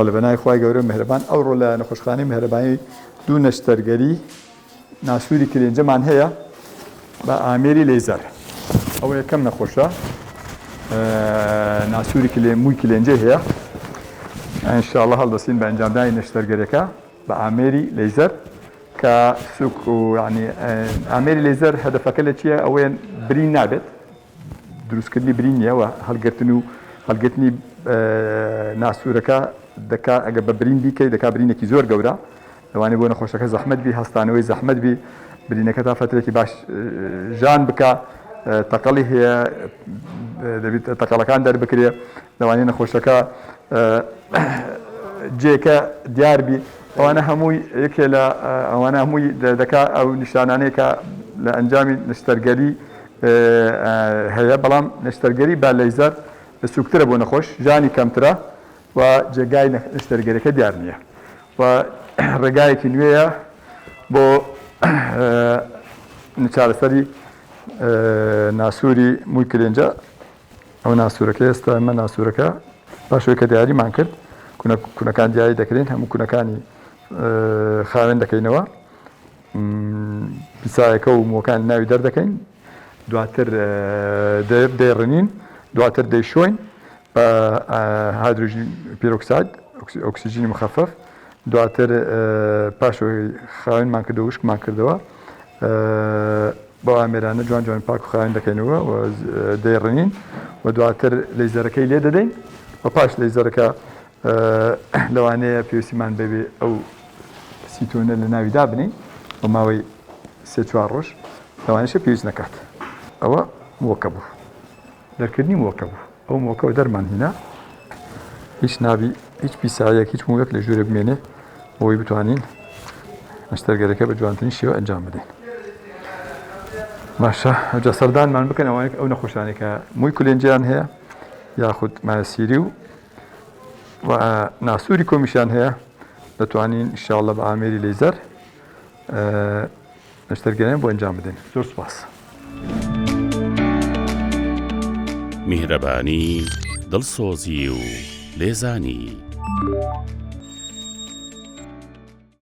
بەڵێ بەناوی خوای گەورە مێهرەبان ئەوڕۆ لە نەخۆشخانەی مێهرەبانی دوو نەشتەرگەری ناسووری کلێنجەمان هەیە بە ئامێری لەیزەر ئەوە یەکەم نەخۆشە ناسووری کلێ مووی کلێنجە هەیە ئەنشاءڵە هەڵدەستین بە ئەنجامدانی نەشتەرگەرەکە بە ئامێری لەیزەر کە سوک و ینی ئامێری لەیزەر هەدەفەکە لە چییە ئەوەیان برین نابێت دروستکردنی برینی هەوا هەڵگرتن و هەڵگرتنی ناسوورەکە دەکا ئەگە بە برین بیکەی دەکا برینێکی زۆر گەورە لەوانێ بۆ نەخۆشەکە زەحمت بی هەستانەوەی زەحمت بی برینەکە تا فترێکی باش ژان بکە تەقەڵی هەیە دەبیت تەقەڵەکان دەربکرێ لەوانێ نەخۆشەکە جێکە دیاربی ئەوانە هەمووی یەکێ لە ئەوانە هەمووی دەکا ئەو نیشانانێکە لە ئەنجامی نشتەرگەری هەیە بەڵام نەشتەرگەری با لەیزەر سوکترە بۆ نەخۆش ژانی کەمترە و جێگای نەشتەرگەریەکە دیار نیە و ڕێگایەکی نوێیە بۆ چارەسەری ناسووری مووی کلێنجە ئەو ناسوورەکە ئێستا ئەمە ناسوورەکە پاشەوەی کە دیاریمان کرد کونەکان دیاری دەکرێن هەموو کونەکانی خاوێن دەکەینەوە پیسایەکە و مووەکانی ناوی دەردەکەین دواتر دەیڕنین دواتر دەیشۆین بە هایدرۆژین پیرۆکساید ئۆکسجینی مخەفەف دواتر پاش خاوێنمان کردەوە وشکمان کردەوە بەو ئامێرانە جوان جوان پاک و خاوێن دەکەینەوە و دەیڕنین و دواتر لەیزەرەکەی لێ دەدەین و پاش لەیزەرەکە لەوانەیە پێویستیمان بەوێ ئەو سیتۆنە لە ناوی دابنێین بۆ ماوەی سێ چوار ڕۆژ لەوانەشە پێویست نەکات ئەوە مووەکە بوو دەرکردنی مووەکە بوو ئەو مووەکەەوە دەرمان هینا هیچ نابی هیچ پیسایەک هیچ مووەک لە ژوورە بمێنێ بۆی بتوانین مەشتەرگەرەکە بە جوانترین شێوە ئەنجام بدەین باشە ئەوجا سەردانمان بکەن ئەوانێک ئەو نەخۆشانێکە مووی کولێنجیان هەیە یاخود ماسیری و و ناسوری کۆمیشیان هەیە دەتوانین انشاءاللە بە ئامێری لەیزەر نەشتەرگەریان بۆ ئەنجام بدەین زۆر سپاس میهرەبانی دڵسۆزی و لێزانی